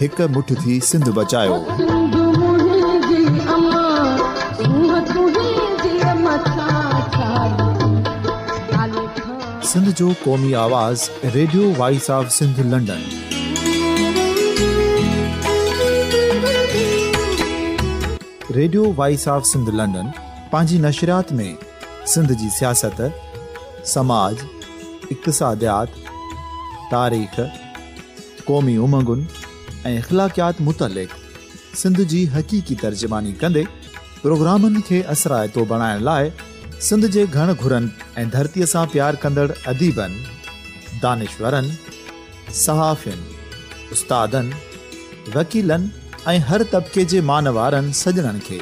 هڪ مٺ ٿي سنڌ بچايو. سنڌ منهنجي اما سونهن تنهنجي اما ڇا ڇا لکان. سنڌ جو قومي آواز radio voice of Sindh London. Radio voice of Sindh London پنهنجي نشريات ۾ سنڌ جي سياست، سماج، اقتصاديات، تاريخ، قومي امنگن ۽ اخلاقيات متعلق سنڌ جي حقيقي ترجماني ڪندي پروگرامن کي اثرائتو بڻائڻ لاء سنڌ جي گهڻ گهرن ۽ ڌرتي سان پيار ڪندڙ اديبن، دانشورن، صحافين، استادن، وڪيلن ۽ هر طبقي جي مانوارن سڄڻن کي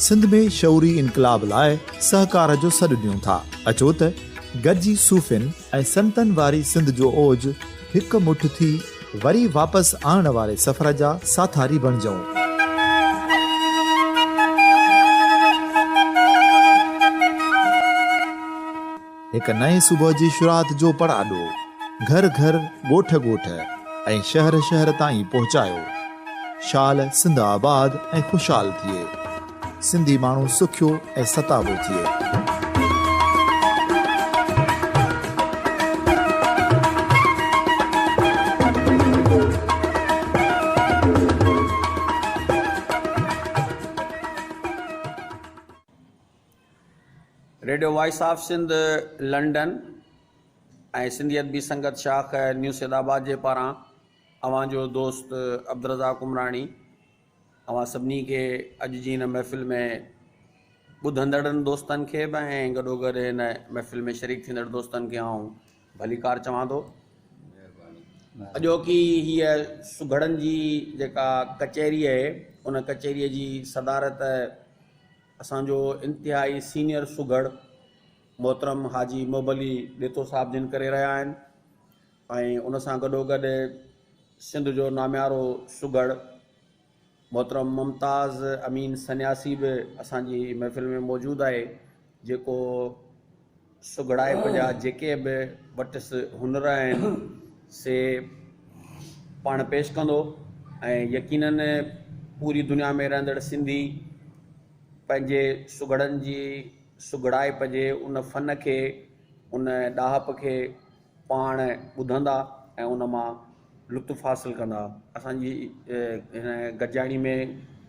سنڌ ۾ شعوري انقلاب لاء سهڪار جو سڏ ڏيون ٿا. اچو ته گڏجي صوفين، ۽ سنتن واري سنڌ جو اوج هڪ مٺ ٿي وري واپس آڻڻ واري سفر جا ساٿاري بڻجئون. هڪ نئين صبح جي شروعات جو پڙاڏو گهر گهر، ڳوٺ ڳوٺ ۽ شهر شهر تائين پهچايو. شال سنڌ آباد ۽ خوشحال ٿئي. سنڌي ماڻهو سکيو ۽ ستابو ٿئي. Radio voice of Sindh London ۽ Sindhi Adabi Sangat شاخ نيو سيد آباد جي پاران اوهان جو دوست عبدالرزاق عمراڻي اوهان سڀني کي اڄ جي هن محفل ۾ ٻڌندڙن دوستن کي به ۽ گڏوگڏ هن محفل ۾ شريڪ ٿيندڙ دوستن کي آئون ڀليڪار چوان ٿو اڄوڪي هيء سگهڙن جي جيڪا ڪچهري آهي ان ڪچهريء جي صدارت اسانجو انتهائي سينيئر سگهڙ محترم حاجي محب علي ڏيتو صاحب جن ڪري رهيا آهن ۽ ان سان گڏوگڏ سنڌ جو ناميارو سگهڙ محترم ممتاز امين سنياسي به اسان جي محفل ۾ موجود آهي جيڪو سگهڙائپ جا جيڪي به وٽس هنر آهن سي پاڻ پيش ڪندو ۽ يقينن پوري دنيا ۾ رهندڙ سنڌي پنهنجي سگهڙن جي سگهڙائپ جي ان فن کي ان ڏاهپ کي پاڻ ٻڌندا ۽ ان مان لطف حاصل ڪندا اسانجي هن گڏجاڻي ۾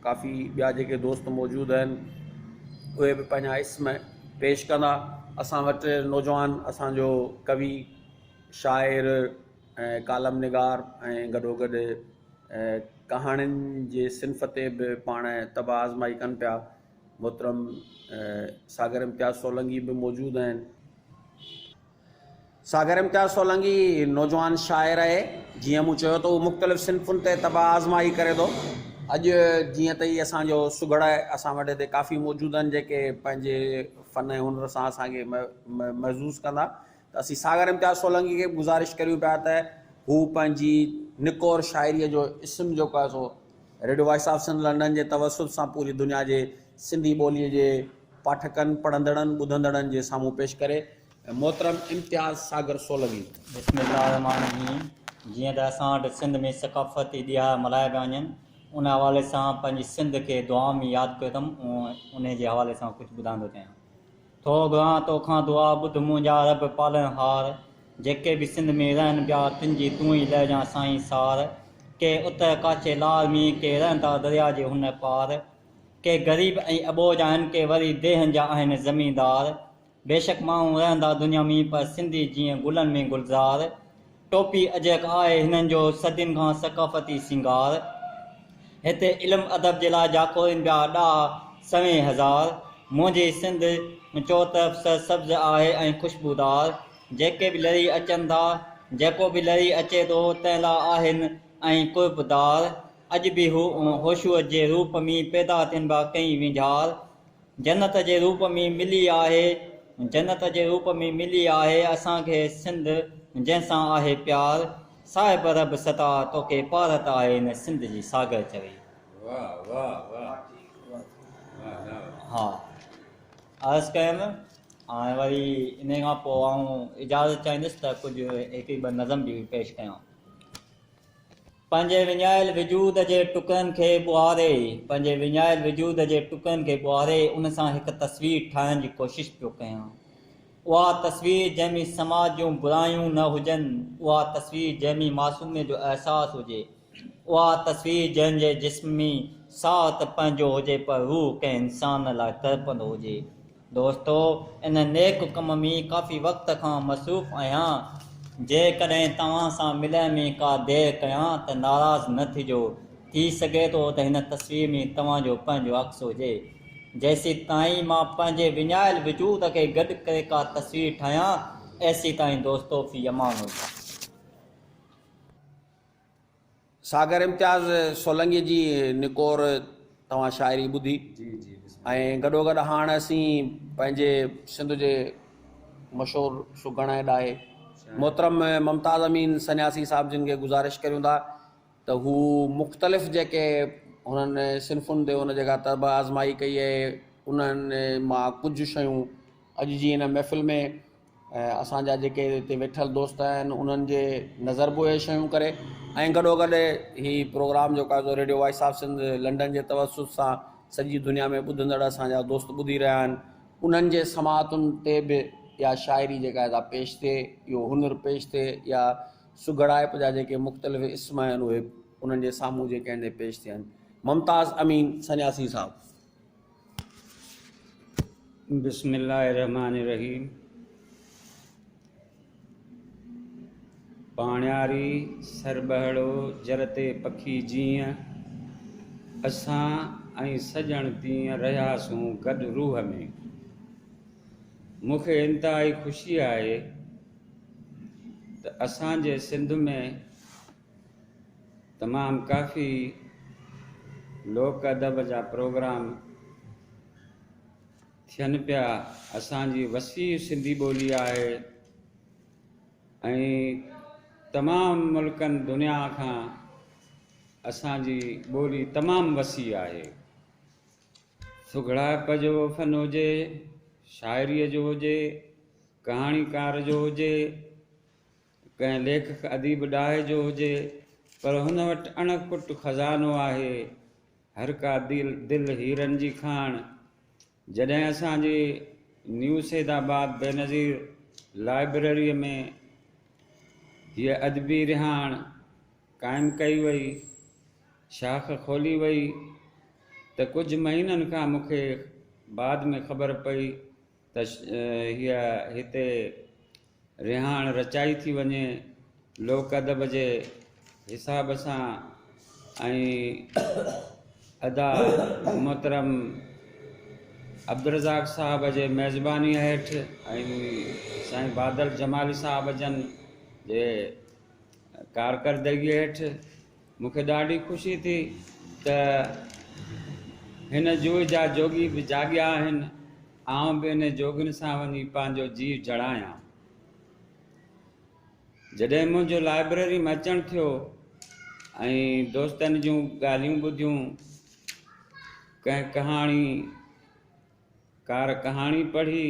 ڪافي ٻيا جيڪي دوست موجود آهن اهي به پنهنجا اسم پيش ڪندا اسان وٽ نوجوان اسانجو ڪوي شاعر ۽ ڪالم نگار ۽ گڏو گڏ ڪهاڻين جي صنف تي به پاڻ طبع آزمائي ڪن پيا محترم ساگر امتياز سولنگي به موجود آهن ساگر امتياز سولنگي نوجوان شاعر اهي، جيئن مون چيو ته هو مختلف صنفن تي طبع آزمائي ڪري ٿو. اڄ جيئن ته هي اسان جو سگهڙ آهي، اسان وٽ هتي ڪافي موجود آهن، جيڪي پنهنجي فن ۽ هنر سان اسان کي محظوظ ڪندا، ته اسين ساگر امتياز سولنگي کي به گذارش ڪريون پيا ته هو پنهنجي نڪور شاعريء جو اسم جيڪو آهي سو radio voice of Sindh London جي توسط سان پوري دنيا جي سنڌي ٻوليء جي پاٺڪن، پڙهندڙن، ٻڌندڙن جي سامهون پيش ڪري. محترم امتياز ساگر سولنگي. بسم الله الرحمٰن الرحيم جيئن ته اسان وٽ سنڌ ۾ ثقافتي ڏيهاڙا ملهايا پيا وڃن ان حوالي سان پنهنجي سنڌ کي دعائن ۾ ياد ڪيو اٿم انهي جي حوالي سان ڪجهه ٻڌائندو چاهيان ٿو گهران توکان دعا ٻڌ منهنجا رب پالڻ هار جيڪي به سنڌ ۾ رهن پيا تن جي تون ئي لهجان سائين سار ڪي اتر ڪاڇي لار ۾ ڪي رهن ٿا دريا جي هن پار ڪي غريب ۽ اٻوجهه آهن ڪي وري ديهن جا آهن زميندار بيشڪ ماڻهو رهندا دنيا ۾ پر سنڌي جيئن گلن ۾ گلزار، ٽوپي اجرڪ آهي هنن جو صدين کان ثقافتي سينگار، هتي علم ادب جي لاء جاکوڙين پيا ڏاها سوين هزار، منهنجي سنڌ چور طرف سر سبز آهي ۽ خوشبودار، جيڪي به لري اچن ٿا، جيڪو به لري اچي ٿو تنهن لاء آهن ۽ قرب دار، اڄ به هو هوشوء جي روپ ۾ پيدا ٿين ڀا ڪئين وينجهار، جنت جي روپ ۾ ملي آهي جنت جي روپ ۾ ملي آهي اسان کي سنڌ جنهن سان آهي پيار صاحب رب ستا توکي پارت آهي هن سنڌ جي ساگر چوي ها عرض ڪيم هاڻي وري ان کان پوء آئون اجازت چاهيندس ته ڪجهه هڪ ٻه نظم به پيش ڪيان پنهنجي وڃايل وجود جي ٽڪرن کي ٻوهاري، پنهنجي وڃايل وجود جي ٽڪرن کي ٻوهاري ان سان هڪ تصوير ٺاهڻ جي ڪوشش پيو ڪيان. اها تصوير جنهن ۾ سماج جون برايون نه هجن، اها تصوير جنهن ۾ معصوميت جو احساس هجي، اها تصوير جنهن جي جسم ۾ ساهه ته پنهنجو هجي پر روح ڪنهن انسان لاء تڙپندو هجي، دوستو ان نيڪ ڪم ۾ ڪافي وقت کان مصروف آهيان جيڪڏهن توهان سان ملڻ ۾ ڪا دير ڪيان ته ناراض نه ٿجو ٿي سگهي ٿو ته هن تصوير ۾ توهان جو پنهنجو عڪس هجي جيسيتائين مان پنهنجي وڃايل وجود کي گڏ ڪري ڪا تصوير ٺاهيان ايسيتائين دوستو في امان الله. ساگر امتياز سولنگي جي نڪور توهان شاعري ٻڌي ۽ گڏو گڏ هاڻ اسين پنهنجي سنڌ جي مشهور سگهڻ ۽ ڏاهي محترم ممتاز امين سنياسي صاحب جن کي گذارش ڪريون ٿا ته هو مختلف جيڪي هنن صنفن تي هن جيڪا طرب آزمائي ڪئي آهي انهن مان ڪجهه شيون اڄ جي هن محفل ۾ ۽ اسان جا جيڪي اتي ويٺل دوست آهن انهن جي نظر به اهي شيون ڪري ۽ گڏو گڏ هي پروگرام جيڪو آهي سو radio voice of Sindh London جي توسط سان سڄي دنيا ۾ ٻڌندڙ اسان جا دوست ٻڌي رهيا آهن انهن جي سماعتن تي به اها شاعري جيڪا آهي سا پيش ٿئي اهو هنر پيش ٿئي يا سگهڙائپ جا جيڪي مختلف اسم آهن اهي انهن جي سامهون جيڪي آهن سي پيش ٿين ممتاز امين سنياسي صاحب بسم الله الرحمٰن الرحيم پاڻياري سرٻهڙو جرتي پکي جيئن اسان ۽ سڄڻ تيئن رهياسون گڏ روح ۾. مون کي انتهائي خوشي آهي ته اسان جي سنڌ ۾. تمام ڪافي لوڪ ادب جا پروگرام ٿين پيا اسان جي وسيع سنڌي ٻولي آهي ۽ تمام ملڪن دنيا کان اسان جي ٻولي تمام وسيع آهي سگهڙائپ جو فن هجي شاعري جو هجي ڪهاڻيڪار جو هجي ڪنهن ليکڪ اديب ڏاهي جو هجي پر هن وٽ اڻ ڪٽ خزانو آهي. هر ڪا دل هيرن جي کاڻ. جڏهن اسان جي نيو سيد آباد بينظير لائبريريء ۾ هيء ادبي رهاڻ قائم ڪئي وئي، شاخ کولي وئي ته ڪجهه مهينن کان مون کي بعد ۾ خبر پئي ته هيء هتي رهاڻ رچائي ٿي وڃي لوڪ ادب جي حساب سان ۽ ادا محترم عبدالرزاق صاحب جي ميزباني هيٺ ۽ سائين بادل جمالي صاحب جن جي ڪارڪردگي هيٺ مون کي ڏاڍي خوشي ٿي ته هن جوء جا جوڳي به جاڳيا آهن، آئون به انهن جوڳين سان وڃي پنهنجو جيء جڙايان. جڏهن منهنجو لائبريري ۾ اچڻ ٿيو ۽ دوستن جون ڳالهيون ٻڌيون، ڪنهن ڪهاڻي ڪار ڪهاڻي پڙهي،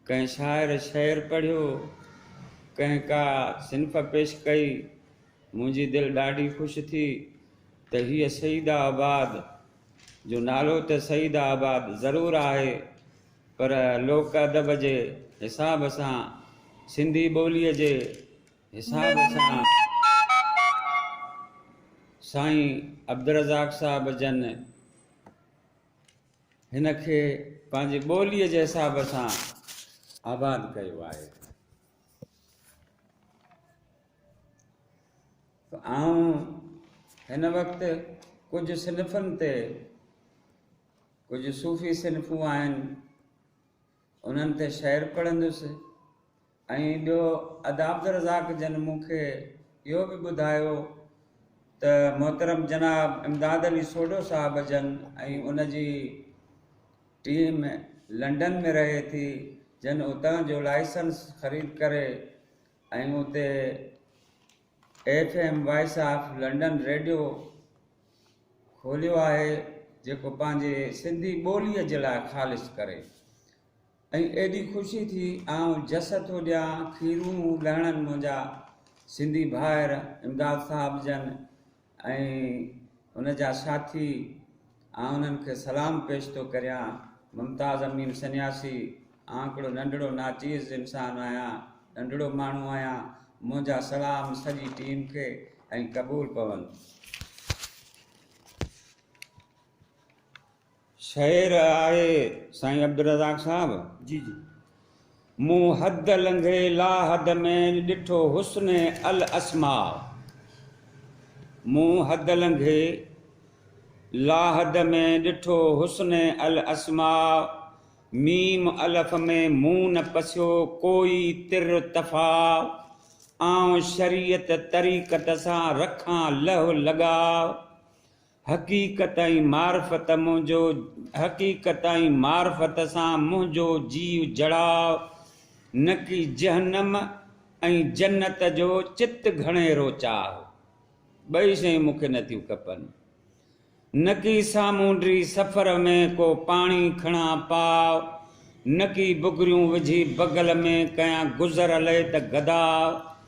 ڪنهن شاعر شعر پڙهيو، ڪنهن ڪا صنف پيش ڪئي، منهنجي دل ڏاڍي خوش ٿي ته هيء سيده آباد، جو نالو ته سيده آباد ضرور آهي، پر لوڪ ادب جي حساب سان، سنڌي ٻوليء جي حساب سان سائين عبدالرزاق صاحب جن. هن کي پنهنجي ٻوليء جي حساب سان آباد ڪيو آهي. آئون هن وقت ڪجهه صنفن تي ڪجهه صوفي صنفون آهن انهن تي شعر پڙهندس ۽ ٻيو ادا عبدالرزاق جن مون کي اهو به ٻڌايو ته محترم جناب امداد علي سوڍو صاحب جن ۽ ان جي ٽيم لنڊن ۾ رهي ٿي جن اتان جو لائسنس خريد ڪري ۽ اتي F M voice of London radio کوليو آهي جيڪو پنهنجي سنڌي ٻوليء جي لاء خالص ڪري ۽ ايڏي خوشي ٿي آئون جس ٿو ڏيان کيرون لهڻن منهنجا سنڌي ڀائر امداد صاحب جن ۽ هن جا ساٿي آء انهن کي سلام پيش ٿو ڪريان. ممتاز امين سنياسي آء هڪڙو ننڍڙو ناچيز انسان آهيان، ننڍڙو ماڻهو آهيان، منهنجا سلام سڄي ٽيم کي ۽ قبول پون. شعر آهي سائين عبدالرزاق صاحب. جي جي. مون حد لنگهي لاحد ۾ ڏٺو حسن الاسماء مون حد لنگهي لاحد ۾ ڏٺو حسن الاسماء ميم الف ۾ مون نه پسيو ڪوئي تر تفاء آئون شريعت طريقت سان رکان لهه لڳاء حقيقت ۽ معرفت منهنجو حقيقت ۽ معرفت سان منهنجو جيء جڙاء نڪي جهنم ۽ جنت جو چت گهڻيرو چاهه ٻئي شيون مون کي نه ٿيون کپن نڪي سامونڊي سفر ۾ ڪو پاڻي کڻان پاء نڪي بگريون وجهي بغل ۾ ڪيان گذر الهي ته گدا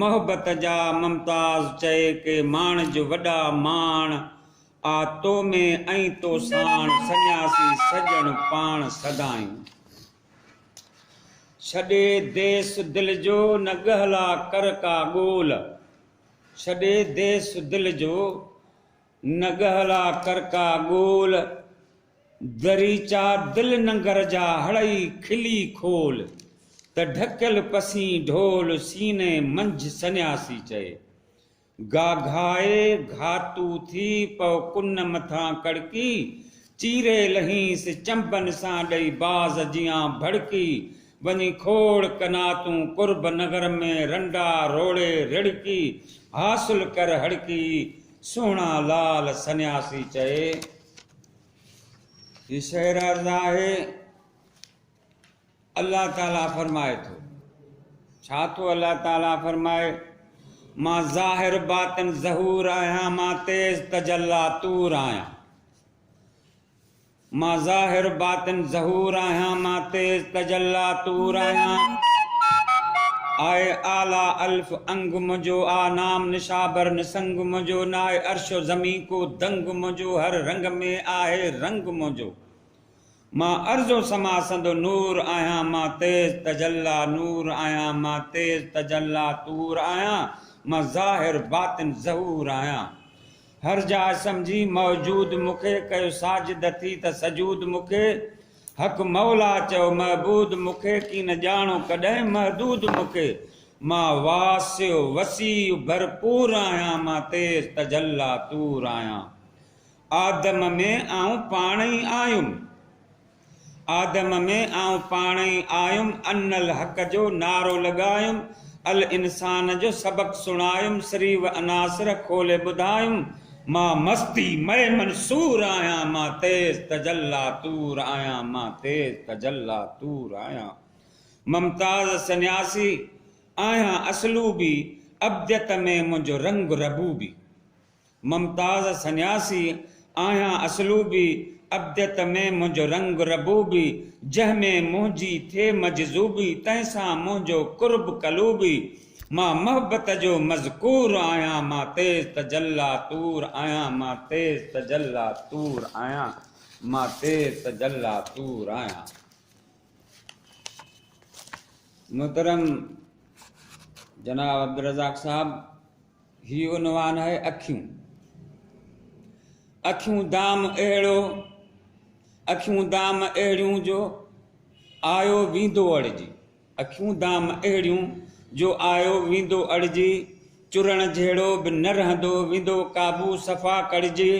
محبت جا ممتاز چئي ڪي ماڻ جو وڏا ماڻ آ تو ۾ ۽ تو ساڻ سڃاسي سڄڻ پاڻ سدائين ڇڏي ديس دل جو نه ڳهلا ڪر ڪا ڳول ڇڏي ديس دل جو. نگهلا ڪرڪا ڳول، دريچا دل ننگر جا هڙئي کلي کول، ته ڍڪيل پسين ڍول سيني منجھ سنياسي چئي. گاگهائي گهاتو ٿي پئو ڪن مٿان ڪڙڪي، چيري لهينس چنبن سان ڏئي باز جيان ڀڙڪي، وڃي کوڙ قناتون قرب نگر ۾ رنڊا روڙي رڙڪي، حاصل ڪر هڙڪي، سهڻا لعل سنياسي چئي هي شعر عرض آهي، الله تعاليٰ فرمائي ٿو، ڇا ٿو الله تعاليٰ فرمائي، مان ظاهر باطن ظهور آهيان، مان تيز تجلا طور آهيان. مان ظاهر باطن ظهور آهيان مان تيز تجلا طور آهيان آء اعليٰ الف انگ منهنجو آ نام نشابر نسنگ منهنجو ناهي عرش و زمين ڪو دنگ منهنجو هر رنگ ۾ آهي رنگ منهنجو مان ارض و سما سندو نور آهيان مان تيز تجلا نور آهيان مان تيز تجلا طور آهيان مان ظاهر باطن ظهور آهيان هر جاء سمجهي موجود مون کي، ڪيو ساجد ٿي ته سجود مون کي، حق مولا چئو معبود مون کي، ڪين ڄاڻو ڪڏهن محدود مون کي، مان واسع وسيع ڀرپور آهيان، مان تيز تجلا طور آهيان، آدم ۾ آئون پاڻ ئي آيم، آدم ۾ آئون پاڻ ئي آيم ان الحق جو نعرو لڳايم الانسان جو سبق سڻايم سري و عناصر کولي ٻڌايم مان مستي مئي منصور آهيان مان تيز تجلا طور آهيان مان تيز تجلا طور آهيان ممتاز سنياسي آهيان اسلوبي ابديت ۾ منهنجو رنگ ربوبي ممتاز سنياسي آهيان اسلوبي، ابديت ۾ منهنجو رنگ ربوبي، جنهن ۾ منهنجي ٿئي مجذوبي، تنهن سان منهنجو قرب قلوبي، مان محبت جو مذڪور آهيان، مان تيز تجلا طور آهيان، مان تيز تجلا طور آهيان، مان تيز تجلا طور آهيان. محترم جناب عبدالرزاق صاحب هي عنوان آهي اکيون اکيون دام اهڙو اکيون دام اهڙيون جو آيو ويندو اڙجي اکيون دام اهڙيون جو آيو ويندو اڙجي چرڻ جهڙو به نه رهندو ويندو قابو صفا ڪڙجي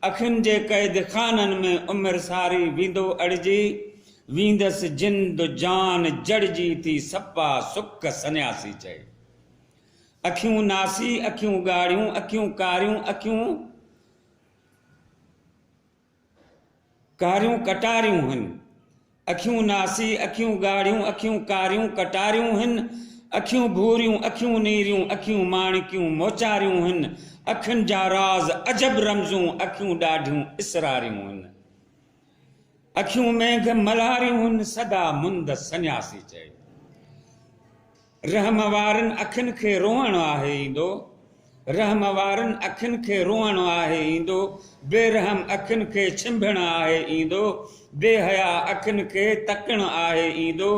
اکين جي قيد خانن ۾ عمر ساري ويندو اڙجي ويندس جند جان جڙجي ٿي سپا سڪ سنياسي چئي اکيون ناسي، اکيون ڳاڙهيون، اکيون ڪاريون، اکيون ڪاريون ڪٽاريون هن. اکيون ناسي، اکيون ڳاڙهيون، اکيون ڪاريون ڪٽاريون هن. اکيون ڀوريون، اکيون نيريون، اکيون ماڻڪيون موچاريون هن. اکين جا راز عجب رمزون، اکيون ڏاڍيون اسراريون هن. اکيون مينگهه ملهاريون سدا مند سنياسي چئي. رحم وارين اکين کي روئڻ آهي ايندو. رحم وارين اکين کي روئڻ آهي ايندو. بي رحم اکين کي ڇنڀڻ آهي ايندو. بي حيا اکين کي تڪڻ آهي ايندو.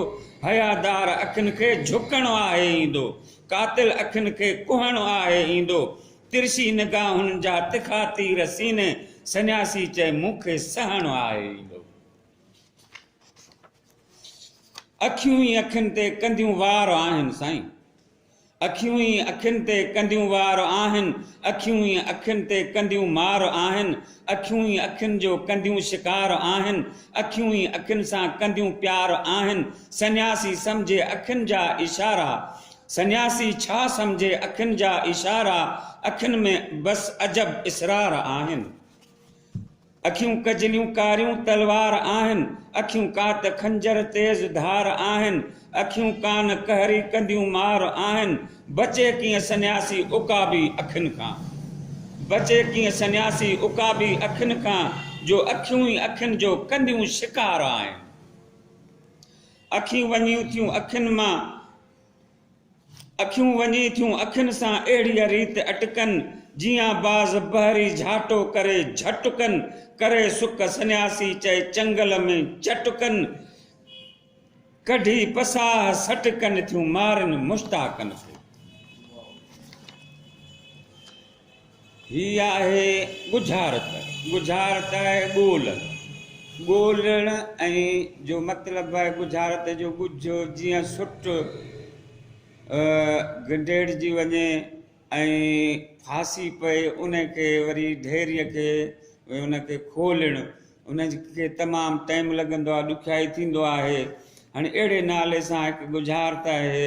حيا دار اکين کي جهڪڻ آهي ايندو. قاتل اکين کي ڪهڻ آهي ايندو. ترشي نگاهن جا تکا تير سيني سنياسي چئي مون کي سهڻو آهي ايندو. اکيون ئي اکين تي ڪنديون وار آهن سائين. اکيون ئي اکين تي ڪنديون وار آهن. اکيون ئي اکين تي ڪنديون مار آهن. اکيون ئي اکين جو ڪنديون شڪار آهن. اکيون ئي اکين سان ڪنديون پيار آهن. سنياسي سمجهي اکين جا اشارا. سنياسي ڇا سمجهي اکين جا اشارا اکين ۾ بس عجب اسرار آهن اکيون ڪجليون ڪاريون تلوار آهن اکيون ڪات خنجر تيز ڌار آهن اکيون ڪان قهري ڪنديون مار آهن بچي ڪيئن سنياسي عقابي اکين کان بچي ڪيئن سنياسي عقابي اکين کان جو اکيون ئي اکين جو ڪنديون شڪار آهن اکيون وڃيون ٿيون اکين مان اکيون وڃي ٿيون اکين سان اهڙيء ريت اٽڪن، جيئن باز بحري جهاٽو ڪري جهٽڪن، ڪري سڪ سنياسي چئي چنگل ۾ چٽڪن، ڪڍي پساهه سٽڪن ٿيون مارن مشتاقن سي. هي آهي ڳجهارت، ڳجهارت آهي ڳول، ڳولڻ ۽ جو مطلب آهي ڳجهارت جو ڳجهه جيئن سٽ گنڊيڙجي وڃي ۽ ڦاسي پئي ان کي وري ڍيريء کي ان کي کولڻ ان کي تمام ٽائيم لڳندو آهي ڏکيائي ٿيندو آهي هاڻي اهڙي نالي سان هڪ ڳجهارت آهي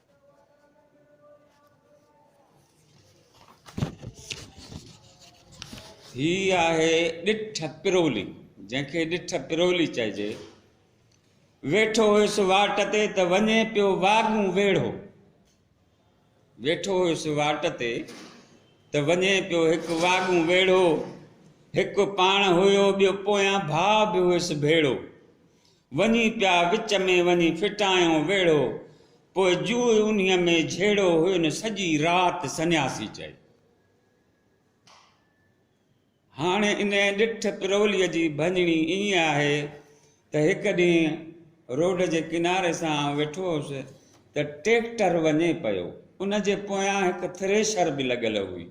هي آهي ڏٺ پرولي جنهن کي ڏٺ پرولي چئجي. ويٺو هيس واٽ تي ته وڃي پيو واڳون ويڙهو ويٺو هيس واٽ تي ته وڃي پيو هڪ واڳون ويڙهو هڪ پاڻ هيو ٻيو پويان ڀاء به هيس ڀيڙو وڃي پيا وچ ۾ وڃي ڦٽايئون ويڙهو، پوء جوء انهيء ۾ جهيڙو هين سڄي رات سنياسي چئي. هاڻي انهيء ڏٺ پروليء جي ڀڃڻي ائين آهي ته هڪ ڏينهن روڊ جي ڪناري سان ويٺو هوس ته ٽيڪٽر وڃي پيو، ان جي پويان هڪ ٿريشر به لڳل هئي.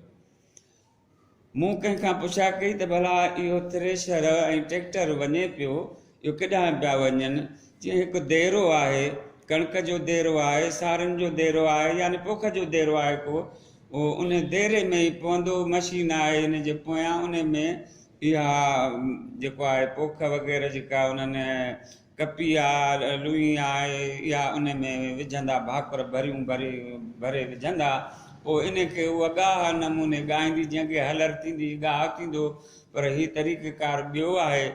مون ڪنهن کان پڇا ڪئي ته ڀلا اهو ٿريشر ۽ ٽريڪٽر وڃي پيو اهو ڪيڏانهن پيا وڃن؟ چيائين هڪ ديرو آهي، ڪڻڪ جو ديرو آهي، سارن جو ديرو آهي يعني پوک جو ديرو آهي ڪو اهو ان ديري ۾ ئي پوندو، مشين آهي ان جي پويان ان ۾ اها جيڪو آهي پوک وغيره جيڪا انهن ڪپي يا لوئي آهي اها ان ۾ وجهندا ڀاڪر ڀريون ڀري ڀري وجهندا پوء ان کي اها ڳاهه نموني ڳائيندي جنهن کي هلر ٿيندي ڳاهه ٿيندو پر هي طريقه ڪار ٻيو آهي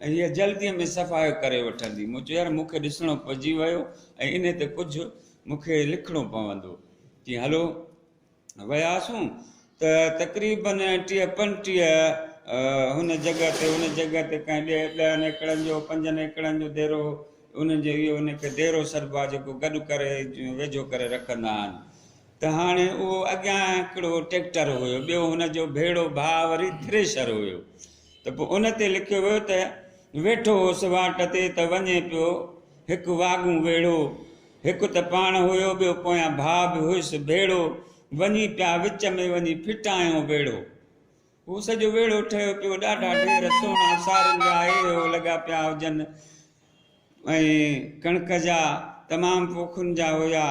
۽ هيء جلديء ۾ صفائي ڪري وٺندي مون چيو يار مون کي ڏسڻو پئجي ويو ۽ ان تي ڪجهه مون کي لکڻو پوندو چيائين هلو وياسون ته تقريباً ٽيهه پنجٽيهه هن جڳهه تي ان جڳهه تي ڪنهن ڏهه ڏهن ايڪڙن جو پنجن ايڪڙن جو ديرو انهن جو اهو ان کي ديرو سڏبو آهي جيڪو گڏ ڪري ويجهو ڪري رکندا آهن ته هاڻي اهو اڳيان هڪڙو ٽيڪٽر هيو ٻيو هن جو ڀيڙو ڀاء وري ٿريشر هيو ته پوء ان تي لکيو ويو ته ويٺو هوس واٽ تي ته وڃي پيو هڪ واڳون ويڙهو هڪ ته پاڻ هيو ٻيو پويان ڀاء به هيس ڀيڙو وڃي پيا وچ ۾ وڃي ڦٽايون ويڙهو هو سڄو ويڙهو ٺهيو پيو ڏاڍا ڍير سهڻا سارين جا اهي هو لڳا پيا هجن ۽ ڪڻڪ جا تمام پوکن جا هيا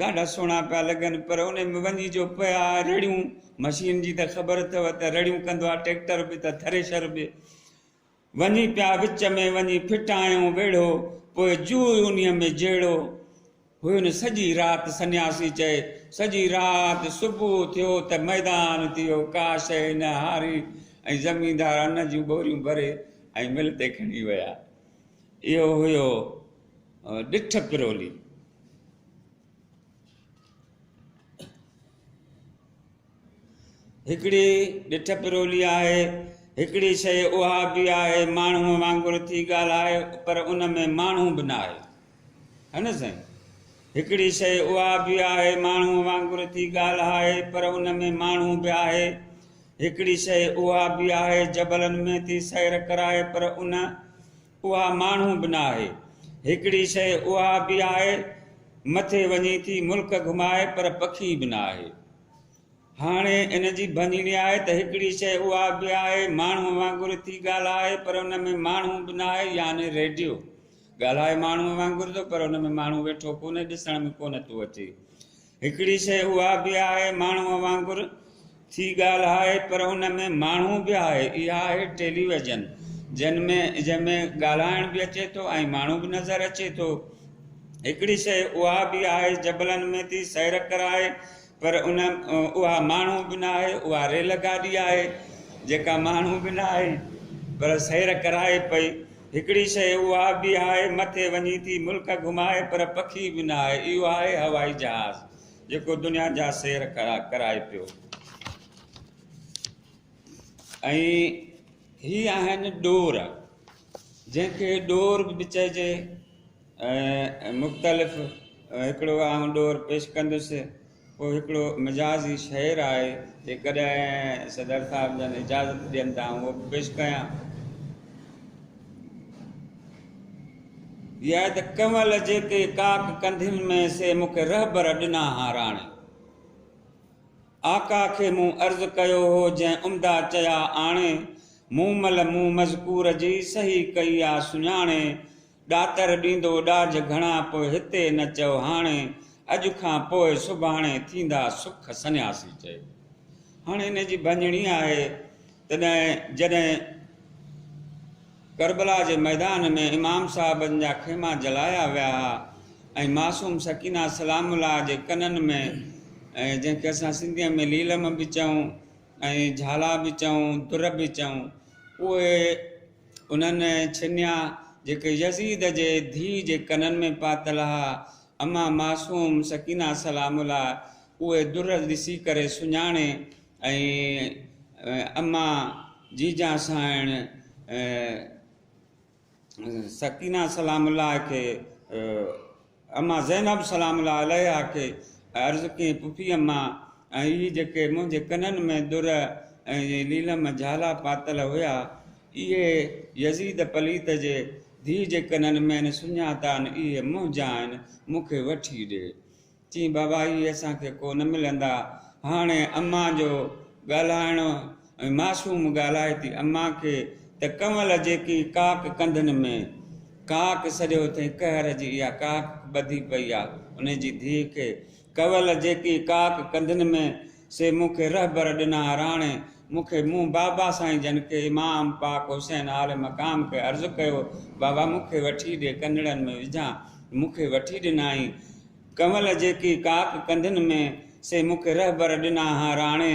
ڏاڍا سهڻا پيا لڳن پر ان ۾ وڃي جو پيا رڙيون مشين جي ته خبر اٿو ته رڙيون ڪندو آهي ٽيڪٽر به ته ٿريشر به وڃي پيا وچ ۾ وڃي ڦٽايئون ويڙهو، پوء جوء انهيء ۾ جهيڙو. هين سڄي رات سنياسي چئي، سڄي رات صبح ٿيو ته ميدان ٿي ويو، ڪا شيء نه هاري ۽ زميندار ان جون ٻوريون ڀري ۽ مل تي کڻي ويا. اهو هيو ڏٺ پرولي. هڪڙي ڏٺ پرولي آهي. هڪڙي شيء اها به آهي، ماڻهوء وانگر ٿي ڳالهائي، پر ان ۾ ماڻهو به نه آهي. ها نه سائين؟ هڪڙي شيء اها به آهي، ماڻهوء وانگر ٿي ڳالهائي، پر ان ۾ ماڻهو به آهي. هڪڙي شيء اها به آهي، جبلن ۾ ٿي سير ڪرائي، پر ان اها ماڻهو به نه آهي. هڪڙي شيء اها به آهي، مٿي وڃي ٿي ملڪ گهمائي پر پکي به نه آهي. هاڻي ان جي ڀڃڻي آهي ته هڪڙي شيء اها به آهي، ماڻهوء وانگر ٿي ڳالهائي پر ان ۾ ماڻهو به نه آهي يعني ريڊيو. ڳالهائي ماڻهوء وانگر ٿو پر ان ۾ ماڻهو ويٺو ڪونهي، ڏسڻ ۾ ڪونه ٿو اچي. هڪڙي شيء اها به آهي ماڻهوء وانگر ٿي ڳالهائي پر ان ۾ ماڻهو به آهي اها آهي ٽيليويزن جنهن ۾ جنهن ۾ ڳالهائڻ به اچي ٿو ۽ ماڻهو به نظر اچي ٿو هڪڙي شيء اها به آهي جبلن ۾ ٿي سير ڪرائي پر ان اها ماڻهو به ناهي اها ريل گاڏي آهي جيڪا ماڻهو به ناهي پر سير ڪرائي پئي هڪڙي شيء اها به آهي، مٿي وڃي ٿي ملڪ گهمائي پر پکي به نه آهي، اهو آهي هوائي جهاز، جيڪو دنيا جا سير ڪرائي پيو. ۽ هي آهن ڏور، جنهن کي ڏور به چئجي، مختلف هڪڙو آئون ڏور پيش ڪندس. اهو هڪڙو مجازي شعر آهي، جيڪڏهن صدر صاحب جن اجازت ڏين ته آئون اهو به پيش ڪيان. يا ته ڪنول جيڪي ڪاڪ ڪنڌين ۾، سي مون کي رهبر ڏنا ها راڻي. آقا کي مون عرض ڪيو هو، جنهن عمدا چيا آڻي. مون مل مون مذڪور جي، سهي ڪئي آ سڃاڻي. ڏاتر ڏيندو ڏاج گهڻا پوء هتي نه چئو هاڻي اڄ کان پوء سڀاڻي ٿيندا سک سنياسي چئي هاڻي ان جي ڀڃڻي آهي تڏهن جڏهن ڪربلا جي ميدان ۾ امام صاحبن جا خيما جلايا ويا ها ۽ معصوم سڪينه سلام الله جي ڪنن ۾ جنهن کي اسان سنڌيء ۾ ليلم به چئون ۽ جهالا به چئون در به چئون اهي انهن ڇنيا جيڪي يزيد جي ڌيء جي ڪنن ۾ پاتل ها. امان معصوم سڪينه سلام الله اهي در ڏسي ڪري سڃاڻي ۽ امان جيجان سانئڻ سڪينه سلام الله کي اما زينب سلام الله عليها کي عرض ڪيائين، پڦي اما، ۽ اهي جيڪي منهنجي ڪنن ۾ در ۽ ليلم جهالا پاتل هيا، اهي يزيد پليت جي ڌيء جي ڪنن ۾ آهن، سڃاتا آهن، اهي منهنجا آهن، مون کي وٺي ڏي. چيائين، بابا، اهي اسان کي ڪو نه ملندا. هاڻي اما جو ڳالهائڻ ۽ معصوم ڳالهائي ٿي اما کي ته ڪنول جيڪي ڪاڪ ڪنڌن ۾، ڪاڪ سڏيو اٿئي قهر جي اها ڪاڪ ٻڌي پئي آ انهي جي ڌيء کي، ڪنول جيڪي ڪاڪ ڪنڌن ۾، سي مون کي رهبر ڏنا راڻي مون کي مون بابا سائين جن کي امام پاڪ حسين اعلي مقام کي عرض ڪيو بابا مون کي وٺي ڏي ڪنڙن ۾ وجهان مون کي وٺي ڏنائين، ڪنول جيڪي ڪاڪ ڪنڌن ۾، سي مون کي رهبر ڏنا ها راڻي،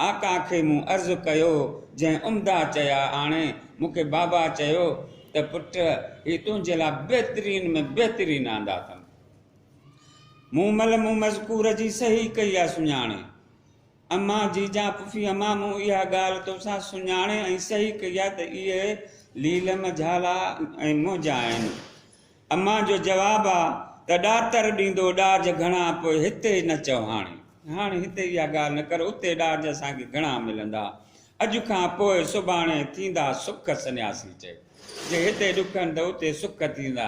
آقا کي مون عرض ڪيو، جنهن عمدا چيا آڻي، مون کي بابا چيو ته پٽ هي تنهنجي لاء بهترين ۾ بهترين آندا اٿم. مون مل مون مذڪور جي صحيح ڪئي آ سڃاڻي. امان جيجان پڦي امان مون اها ڳالهه توسان سڃاڻي ۽ صحيح ڪئي آ ته اهي ليلم جهالا ۽ منهنجا آهن. امان جو جواب آ ته ڏاتر ڏيندو ڏاج گهڻا پوء هتي نه چئو هاڻي هاڻي هتي اها ڳالهه نه ڪر اتي ڏاج اسان کي گهڻا ملندا اڄ کان پوء سڀاڻي ٿيندا سک سنياسي چيو جي هتي ڏکن ته اتي سک ٿيندا.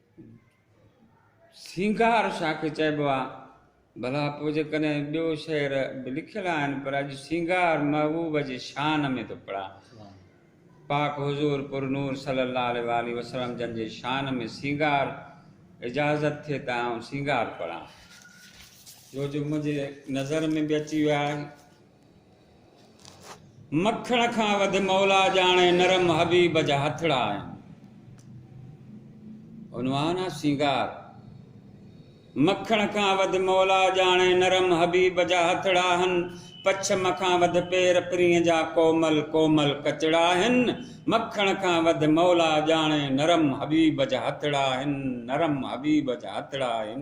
سينگار شاهه کي چئبو آهي. ڀلا پوء جيڪڏهن ٻيو شعر به لکيل آهن پر اڄ سينگار محبوب جي شان ۾ ٿو پڙهان. پاڪ حضور پر نور صلي الله عليه واٰله وسلم جن جي شان ۾ سينگار اجازت ٿئي ته آئون سينگار پڙهان. ڇو جو منهنجي نظر ۾ به اچي ويو آهي. مکڻ کان وڌ مولا ڄاڻي نرم حبيب جا هٿڙا آهن. عنوان آ سينگار. مکڻ کان وڌ مولا ڄاڻي نرم حبيب جا هٿڙا آهن. پڇم کان وڌ پير پرينء جا ڪومل ڪومل ڪچڙا آهن. مکڻ کان وڌ مولا ڄاڻي نرم حبيب جا هٿڙا آهن نرم حبيب جا هٿڙا آهن.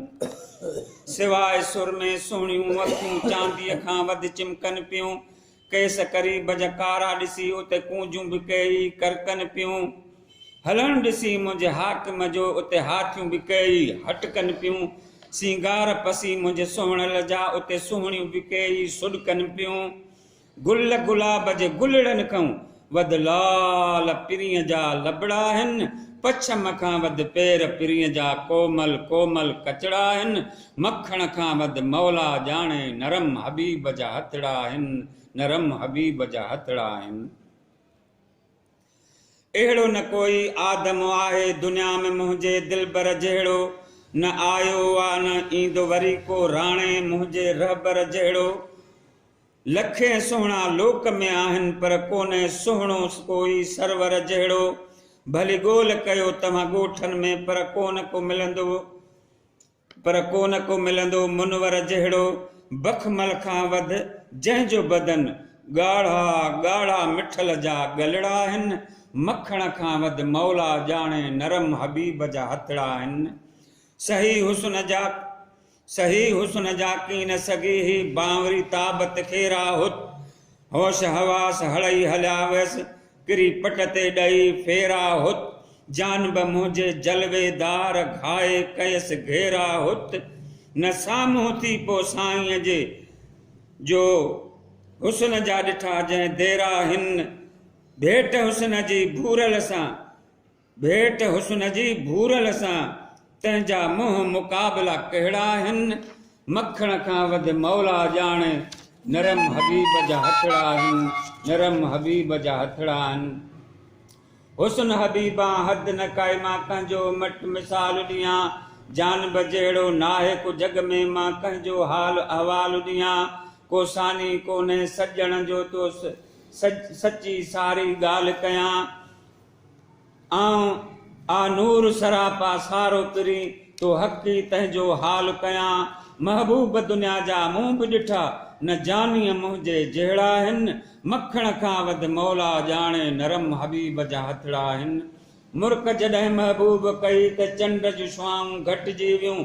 سواء سرمي سهڻيون اکيون چانديء کان وڌ چمڪن پيون. کيس قريب جا ڪارا ڏسي اتي ڪونجون به ڪيئي ڪرڪن پيون. هلڻ ڏسي منهنجي حاڪم جو اتي هاٿيون به ڪيئي هٽڪن پيون. سينگار پسي منهنجي سهڻل جا اتي سهڻيون به ڪيئي سڏڪن پيون. گل گلاب جي گلڙن کئون وڌ لال پرينء جا لبڙا آهن، پڇم کان وڌ پير پرينء جا ڪومل ڪومل ڪچڙا آهن، مکڻ کان وڌ مولا ڄاڻي نرم حبيب جا هٿڙا آهن، نرم حبيب جا هٿڙا آهن. اهڙو نه ڪوئي آدم آهي دنيا ۾ منهنجي دلبر جهڙو، نه آيو آ نه ايندو وري ڪو راڻي منهنجي رهبر جهڙو. لکين سهڻا لوڪ ۾ آهن پر ڪونهي سهڻو ڪوئي سرور جهڙو، ڀلي ڳول ڪيو توهان ڳوٺن ۾ پر ڪونه ڪو ملندو پر ڪونه ڪو ملندو منور جهڙو، بخمل کان وڌ جنهن جو بدن ڳاڙها ڳاڙها مٺل جا ڳلڙا آهن، مکڻ کان وڌ مولا ڄاڻي نرم حبيب جا هٿڙا آهن، سهي حسن جا. سهي حسن جا ڪين نه سگهي هي بانوري تاب تکيرا هت هوش حواس هڙئي هليا ويس ڪري پٽ تي ڏئي ڦيرا هت جان به منهنجي جلوي دار گهائي ڪيس گهيرا هت نه سامهون ٿي پو سائينء جي جو حسن جا ڏٺا جنهن ديرا هن ڀيٽ حسن جي ڀورل سان ڀيٽ حسن جي ڀورل سان تنهنجا منهن مقابلا ڪهڙا آهن مکڻ کان وڌ مولا ڄاڻي نرم حبيب جا هٿڙا آهن نرم حبيب جا هٿڙا آهن حسن حبيبان حد نه ڪائي مان ڪنهنجو مٽ مثال ڏيان جان به جهڙو ناهي ڪو جڳ ۾ مان ڪنهنجو حال احوال ڏيان ڪو ثاني ڪونهي سڄڻ جو تو سچي ساري ڳالهه ڪيان. آئون آ نور سراپا سارو پرين تو حق ئي تنهنجو حال ڪيان محبوب دنيا جا مون به ڏٺا نه جانيء منهنجي جهڙا هن مکڻ کان وڌ مولا ڄاڻي نرم حبيب جا هٿڙا هن مرڪ جڏهن محبوب ڪئي ته چنڊ جون شعائون گهٽجي ويون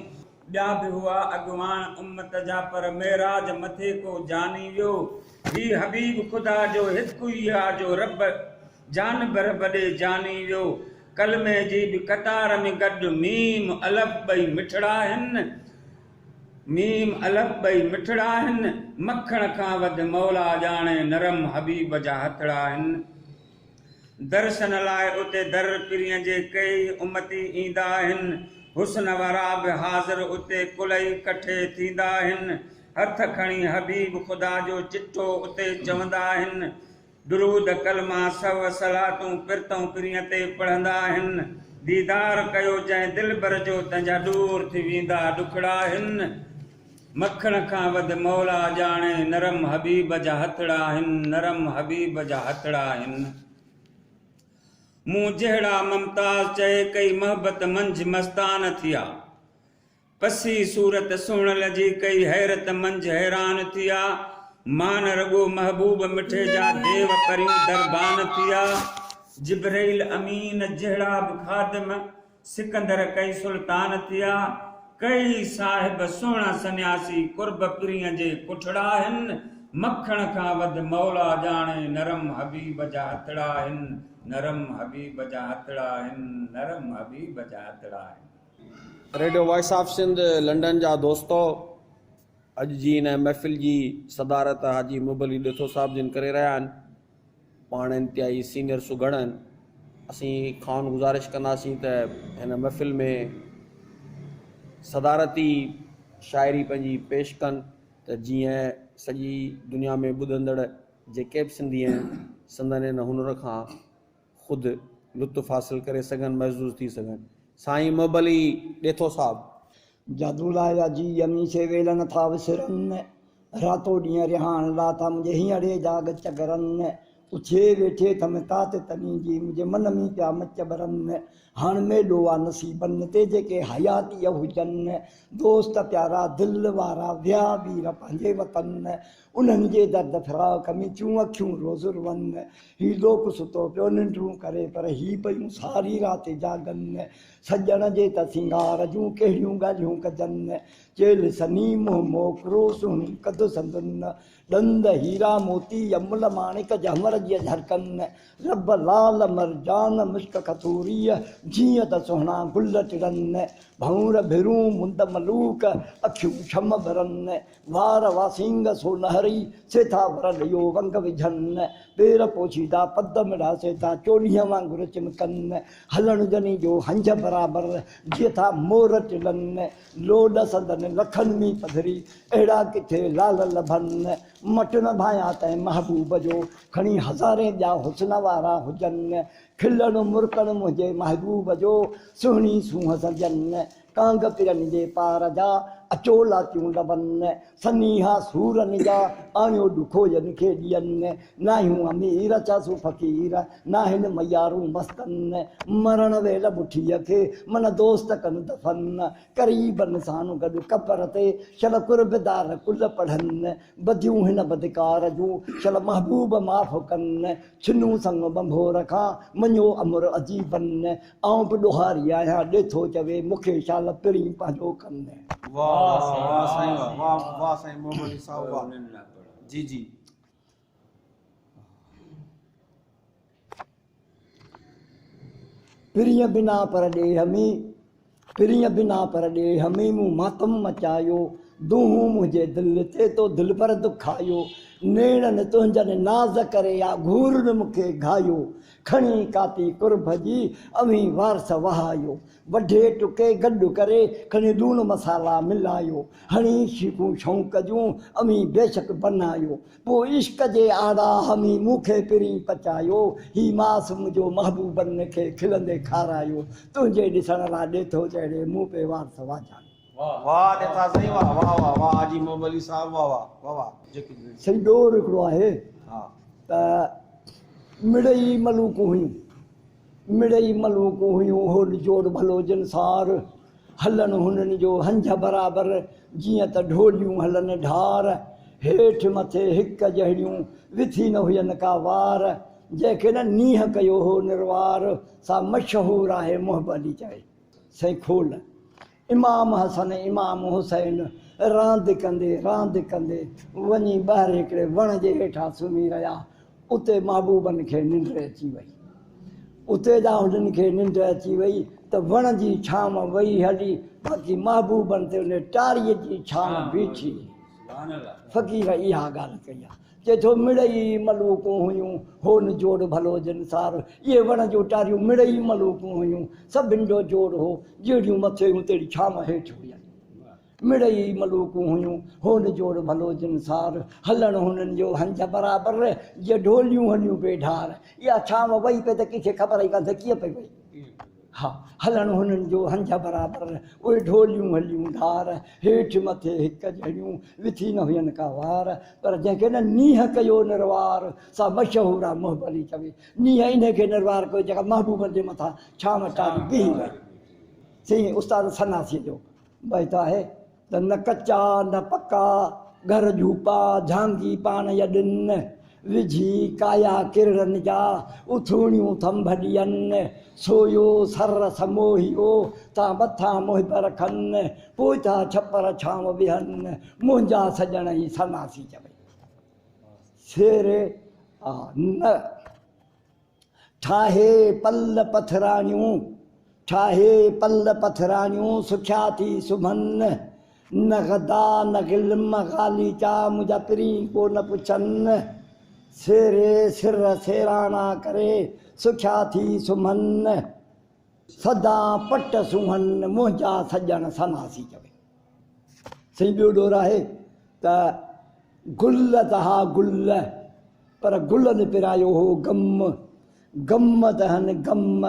ٻيا به هئا اڳواڻ امت جا پر معراج مٿي ڪو جاني ويو هي حبيب خدا جو هڪ ئي آ جو رب جان برب ڏي جاني ويو ڪلمي جي به قطار ۾ گڏ ميم الف ٻئي مٺڙا آهن ميم الف ٻئي مٺڙا آهن مکڻ کان وڌ مولا ڄاڻي نرم حبيب جا هٿڙا آهن. درشن لاء اتي در پرين جي ڪيئي امتي ايندا آهن. حسن وارا به حاضر اتي ڪلئي ڪٺي ٿيندا آهن. هٿ کڻي حبيب خدا جو چٽو اتي چوندا آهن. درود ڪلما سو صلاتون پرتئون پرين تي پڙهندا آهن. ديدار ڪيو جنهن دلبر جو تنهنجا ڏور ٿي ويندا ڏکڙا آهن. مکڻ کان وڌ مولا ڄاڻي نرم حبيب جا هٿڙا آهن نرم حبيب جا هٿڙا آهن مون جهڙا ممتاز چئي ڪئي محبت منجھ مستان ٿيا پسي صورت سهڻ لجي ڪئي حيرت منجھ حيران ٿيا مان رڳو محبوب مٺي جا ديو پريون دربان ٿيا جبرئيل امين جهڙا به خادم سڪندر ڪئي سلطان ٿيا، ڪئي صاحب سهڻا سنياسي قرب پرينء جي ڪٺڙا هن، مکڻ کان وڌ مولا ڄاڻي نرم حبيب جا هٿڙا هن، نرم حبيب جا هٿڙا هن، نرم حبيب جا هٿڙا هن. Radio voice of Sindh London جا دوستو اڄ جي ان محفل جي صدارت حاجي محب علي ڏيٿو صاحب جن ڪري رهيا آهن. پاڻ انتهائي سينئر سگهڙ آهن اسين کانئن گذارش ڪنداسين ته هن محفل ۾ صدارتي شاعري پنهنجي پيش ڪن ته جيئن سڄي دنيا ۾ ٻڌندڙ جيڪي به سنڌي آهن سندن ان هنر کان خود لطف حاصل ڪري سگهن محظوظ ٿي سگهن سائين محب علي ڏيٿو صاحب. جادو لايا جي يمي سي ويل نه ٿا وسرن راتو ڏينهن رهاڻ لا ٿا منهنجي هينئڙي جاڳ چڳرن اٿئي ويٺي ٿم تات تني جي منهنجي من مي پيا مچ ٻرن هاڻ ميلو آ نصيبن تي جيڪي حياتيء هجن دوست پيارا دل وارا ويا وير پنهنجي وطن انهن جي درد فراق ۾ چون اکيون روزر ون. هي لوڪ ستو پيو ننڊون ڪري پر هي پيون ساري رات جاڳن. سڄڻ جي ته سينگار جون ڪهڙيون ڳالهيون ڪجن. چيل سني منهن موڪرو سهڻي ڪڌ سندن. ڏند هيرا موتي يمل ماڻڪ جهمر جي اجهرڪن. رب لعل مرجان مشڪ کٿوريء جيئن ته سهڻا گل ٽڙن. ڀنور ڀرون مند ملوڪ اکيون شم ٻرن. وار واسينگ سو نهري، سيٿا ور ڏيو ونگ وجهن. پير پوشيدا پد مڙها، سيٿا چوڏهينء وانگر چمڪن. هلڻ جني جو هنجهه برابر، جيٿا مور ٽلن. لوڏ سندن لکن مين پڌري، اهڙا ڪٿي لعل لڀن. مٽ نه ڀانيان تنهن محبوب جو، کڻي هزارين ٻيا حسن وارا هجن. کلڻ مرڪڻ منهنجي محبوب جو، سهڻي سونهن سنجن. ڪانگ ڪرن جي پار جا، اچو لاتيون لبن. سنيها سورن جا، آڻيو ڏکو ين کي ڏين. ناهيون امير ڇا سو فقير، ناهن ميارون مستن. مرڻ ويل مٺيء کي، من دوست ڪن دفن. قريبن سان گڏ قبر تي، شل قرب دار ڪل پڙهن. بديون هن بدڪار جون، شل محبوب معاف ڪن. ڇنون سڱ ٻنڀور کان، مڃيو امر عجيبن. آئون به ڏوهاري آهيان ڏيٿو چوي مون کي شال پرين پنهنجو ڪم نه. واھ واھ سائين واھ سائين واھ واھ واھ سائين موملي صاحب واھ جي جي. پرين بنا پر ڏيھ ۾ پرين بنا پر ڏيھ ۾ مون ماتم مچايو دونهون منهنجي دل تي تو دل پر دکايو نيڻن تنهنجن ناز ڪري آ گهورن مون کي گهايو کڻي ڪاپي قرب جي اوهين وارث وهايو وڍي ٽڪي گڏ ڪري کڻي لوڻ مصالا ملايو هڻي شيخون شوق جون اوهين بيشڪ بنايو پوء عشق جي آڙا همي مون کي پرين پچايو هي ماس منهنجو محبوبن کي کلندي کارايو تنهنجي ڏسڻ لا ڏيٿو جهڙي مون پي وارث واجهايو. واھ ڏتا سائين واھ واھ واھ واھ حاجي محب علي صاحب واھ واھ واھ واھ جيڪي به سائين ٻيو هڪڙو آهي ها ته مڙئي ملوڪون هيون مڙئي ملوڪون هيون هو نجوڙ ڀلو جن سار هلڻ هنن جو هنجهه برابر جيئن ته ڍوليون هلن ڍار هيٺ مٿي هڪ جهڙيون وٿي نه هين ڪا وار جنهن کي نه نينهن ڪيو هو نروار سا مشهور آهي محب علي چوي. سائين کول. امام حسن ۽ امام حسين راند ڪندي راند ڪندي وڃي ٻاهر هڪڙي وڻ جي هيٺان سمهي رهيا. اتي محبوبن کي ننڊ اچي وئي. اتي جا هنن کي ننڊ اچي وئي ته وڻ جي ڇانو وئي هلي باقي محبوبن تي ان ٽاري جي ڇانو بيٺي. فقير اها ڳالهه ڪئي آهي. چئي ٿو مڙئي ملوڪون هيون، هو نه جوڙ ڀلو جن سار. اهي وڻ جون ٽاريون مڙئي ملوڪون هيون، سڀن جو جوڙ هو، جهڙيون مٿي هيون تهڙي ڇانو هيٺ هيون. مڙئي ملوڪون هيون، هو نه جوڙ ڀلو جن سار. هلڻ هنن جو هنج برابر، جيئن ڍوليون هليون پي ڍار. اها ڇانو وئي پئي ته ڪنهن کي خبر ئي ڪانه ته ڪيئن پئي وئي. ها هلڻ هنن جو هنج برابر، اهي ڍوليون هليون ڌار، هيٺ مٿي هڪ جهڙيون، وٿي نه هين ڪا وار، پر جنهن کي نه نينهن ڪيو نروار، سا مشهور آ مهبلي چوي، نينهن انهي کي نروار ڪيو جيڪا محبوبن جي مٿان ڇانو چاڙهي بيهي رهي. سي استاد سناسيء جو بيت آهي. ته نه ڪچا نه پڪا، گهر جهوپا، جهانگي پاڻ يڏن، وجهي ڪايا ڪرڙن جا، اٿوڻيون ٿنڀ ڏين، سويو سر سموهيو، تان مٿان محب رکن، پوء ٿا ڇپر ڇانو ويهن، منهنجا سڄڻ هي سناسي چوي. شعر، آه نه! ٺاهي پل پٿراڻيون، ٺاهي پل پٿراڻيون، سکيا ٿي سمهن. نه غدا نه غلم غاليچا، منهنجا پرين ڪو نه پڇن. سيري سر سيراڻا ڪري، سکيا ٿي سمهن. سدان پٽ سونهن، منهنجا سڄڻ سماسي چوي. سائين ٻيو ڏور آهي ته گل تها گل پر گلن پرايو هو غم غم تهن غم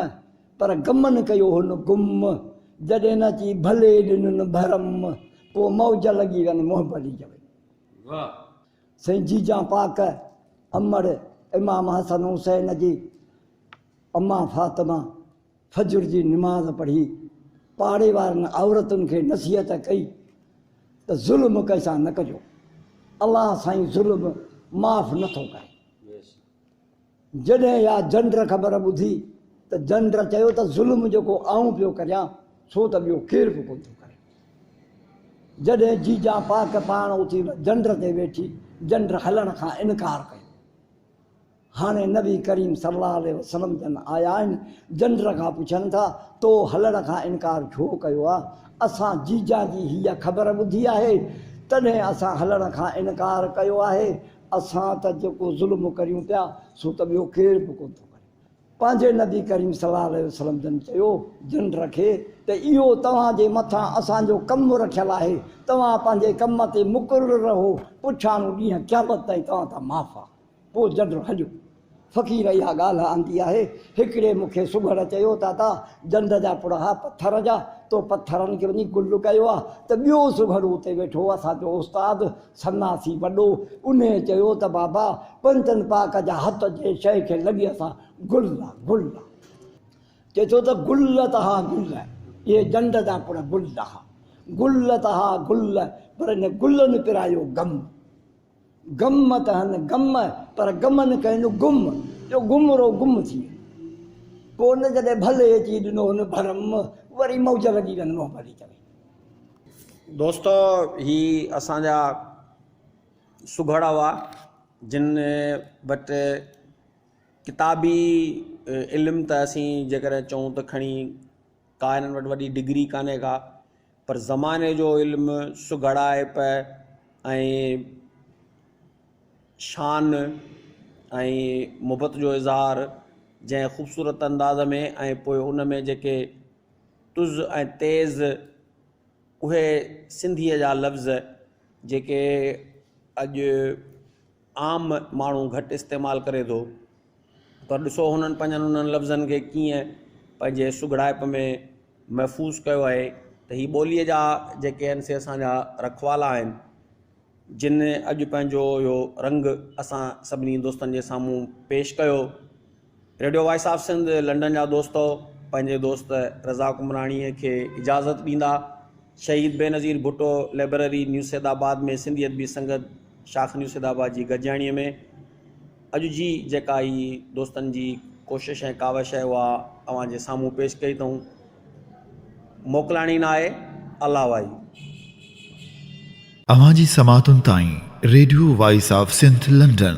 پر غمن ڪيو هن گم جڏهن نه چي ڀلي ڏنن ڀرم پوء موج لڳي وين محبت جي وين سائين جيجان پاڪ امڙ امام حسن حسين جي امان فاطمه فجر جي نماز پڙهي پاڙي وارن عورتن کي نصيحت ڪئي ته ظلم ڪنهن سان نه ڪجو الله سائين ظلم معاف نه ٿو ڪري جڏهن يا جنڊر خبر ٻڌي ته جنڊر چيو ته ظلم جيڪو آئون پيو ڪريان سو ته ٻيو ڪير به ڪون ٿو ڪري جڏهن جيجا پاڪ پاڻ اٿي جنڊر تي ويٺي جنڊر هلڻ کان انڪار ڪيو هاڻي نبي ڪريم صلي الله عليه وسلم جن آيا آهن، جنڊر کان پڇن ٿا، تو هلڻ کان انڪار ڇو ڪيو آ؟ اسان جيجا جي هيء خبر ٻڌي آهي، تڏهن اسان هلڻ کان انڪار ڪيو آهي، اسان ته جيڪو ظلم ڪريون پيا، سو ته ٻيو ڪير به ڪونه ٿو ڪري. پنهنجي نبي ڪريم صلي الله عليه وسلم جن چيو، جنڊر کي، ته اهو توهان جي مٿان اسان جو ڪم رکيل آهي، توهان پنهنجي ڪم تي مقرر رهو، پڇاڻو ڏينهن قيامت تائين توهان تان معاف آهي. پوء جنڊو هنجو فقير اها ڳالهه آندي آهي. هڪڙي مون کي سگهڙ چيو ته ادا جنڊ جا پڙها پٿر جا، تو پٿرن کي وڃي گل ڪيو آ ته ٻيو سگهڙ اتي ويٺو اسان جو استاد سناسي وڏو انهي چيو ته بابا پنجن پاڪ جا هٿ جنهن شيء کي لڳي اسان گل آ گل آ چئي ٿو ته گل ته ها گل اهي جنڊ جا پڙ گل ها گل ته ها گل پر ان گلن پرايو غم. گم مت هن گم پر گم نه ڪين گم جو گم رو گم ٿي ويو پوء ان جڏهن ڀلي اچي ڏنو هن ڀرم وري موج لڳي وين منهن ڀري چوي دوستو هي اسان جا سگهڙا هئا جن وٽ ڪتابي علم ته اسين جيڪڏهن چئون ته کڻي ڪا هنن وٽ وڏي ڊگري ڪانهي ڪا پر زماني جو علم سگهڙائپ ۽ شان ۽ محبت جو اظهار جنهن خوبصورت انداز ۾ ۽ پوء ان ۾ جيڪي تز ۽ تيز اهي سنڌيء جا لفظ جيڪي اڄ عام ماڻهو گهٽ استعمال ڪري ٿو پر ڏسو هنن پنهنجن انهن لفظن کي ڪيئن پنهنجي سگهڙائپ ۾ محفوظ ڪيو آهي ته هي ٻوليء جا جيڪي آهن سي اسان جا رکوالا آهن، جن اڄ پنهنجو اهو رنگ اسان سڀني دوستن جي سامهون پيش ڪيو. Radio voice of Sindh London جا دوستؤ پنهنجي دوست رضا قمراڻيء کي اجازت ڏيندا. شهيد بينظير ڀٽو لئبرري نيوسيدآباد ۾ سنڌي ادبي سنگت شاخ نيوسيدآباد جي گڏجاڻيء ۾. اڄ جي جيڪا هي دوستن جي ڪوشش ۽ ڪاوش آهي اها اوهان جي سامهون پيش ڪئي اٿئون موڪلاڻي نه آهي الله وائي. اوهان جي سماعتن تائين radio voice of Sindh London.